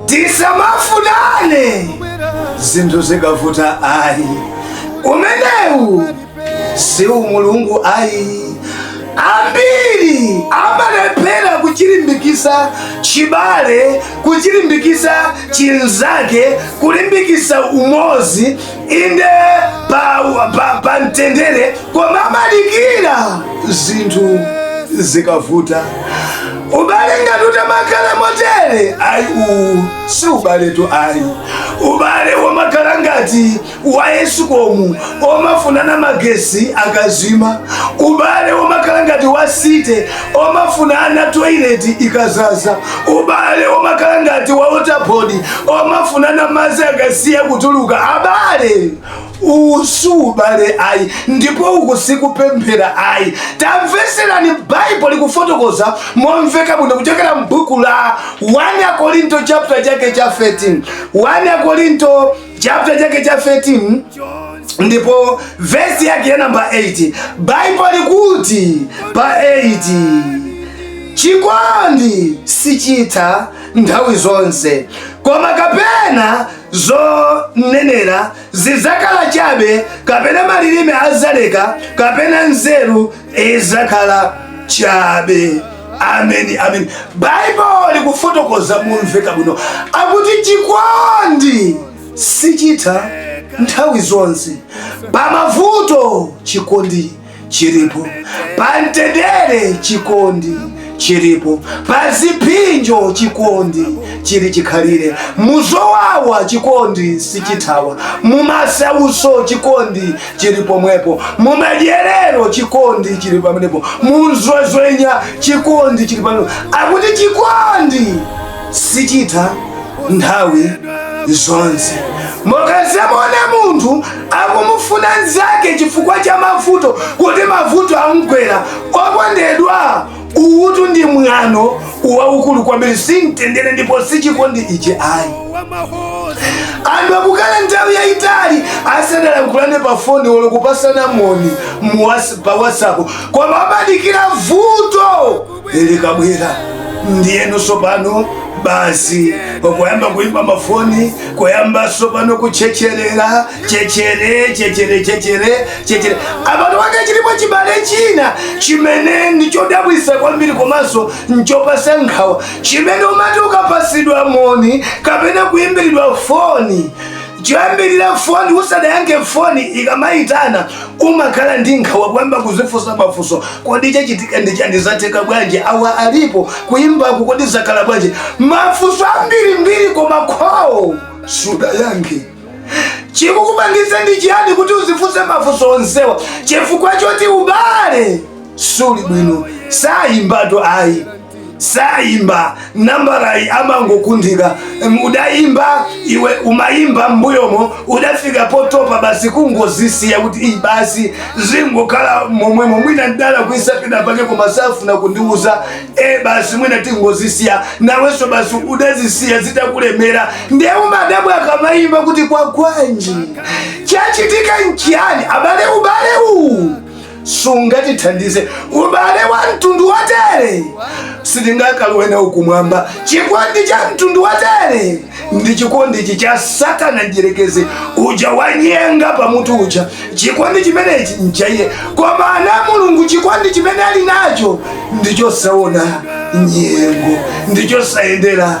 tisamafunane zinthu zikavuta ayi umenewu si umulungu ayi ambiri amalephera kuchilimbikisa chibale kuchilimbikisa chinzake kulimbikisa umozi inde pa mtendere koma amadikira zinthu zikavuta ubale ngati utamakhala motere ayi uwu si ubaletu ayi ubale womakhala ngati wa ESCOM omafunana magesi akazima ubale womakhala ngati wa site omafunana toilet ikazaza ubale womakhala ngati wa waterboard omafunana madzi akasiya kutuluka abale uwu si ubale ayi ndipo uku sikupemphera ayi tamveserani baibo likufotokoza momveka bwino kuchokera m'buku la 1 akorinto chapter chake cha 13 1 akorinto chapter chake cha 13 ndipo vesi yake ya namba 8 baibo likuti pa 8 chikondi sichitha nthawi zonse koma kapena zonenera zidzakhala chabe kapena malilime azaleka kapena nzeru izakhala chabe ameni ameni baibo likufotokoza momveka bwino akuti chikondi sichitha nthawi zonse pamavuto chikondi chilipo pamtendere chikondi chilipo pazipsinjo chikondi chili chikhalire muzowawa chikondi sichithawa mumasauso chikondi chili pomwepo mumadyerero chikondi chili pamenepo munzwezwenya chikondi chili pamenepo akuti chikondi sichitha nthawi zonse mukazamuona munthu akumufuna nzake chifukwa cha mavuto kuti mavuto amgwera okondedwa uwutu ndi mwano waukulu kwambiri simtendere ndipo sichikondi ichi ayi anthu akukhala nthawi yayitali asanalankhulane pa foni olo kupasana moni pa whatsapp koma amadikira vuto likabwera ndiyeno sopano basi kuyamba kuimba mafoni kuyamba sopano kuchecherera chechere chechere chechere chechere abale anga chilipo chibale china chimene ndichodabwisa kwambiri komanso nchopasa nkhawa chimene umati ukapasidwa moni kapena kuimbiridwa foni Choyambirira foni usadayankhe foni ikamaitana umakhala ndi nkhawa kuyamba kudzifunsa mafunso kodi chachitika ndi chani zatheka bwanji awa alipo kuimbaku kodi zakhala bwanji mafunso ambirimbiri koma call sudayankhe chikukupangitsa ndi chiyani kuti udzifunse mafunso onsewa chifukwa choti ubale suli bwino sayimbatu ayi sayimba nambalayi amangokundika udayimba iwe umayimba mbuyomo udafika potopa basi kungozisiya kuti iyi basi zingokhala momwemo mwina ndalakwitsa penapake koma safuna kundiuza e basi mwina tingozisiya nawonso basi udazisiya zitakulemera ndiye umadabwa akamayimba kuti kwagwanji chachitika nchiyani abale ubale uwu sungatithandize ubale wa mtundu wotere sitingakalowe nawo kumwamba chikondi cha mtundu wotere ndi chikondi ichi cha satana mdyerekezi uja wanyanga pamutu uja chikondi chimenechi nchaiye koma ana a Mulungu chikondi chimene ali nacho ndichosaona nyengo ndichosayendera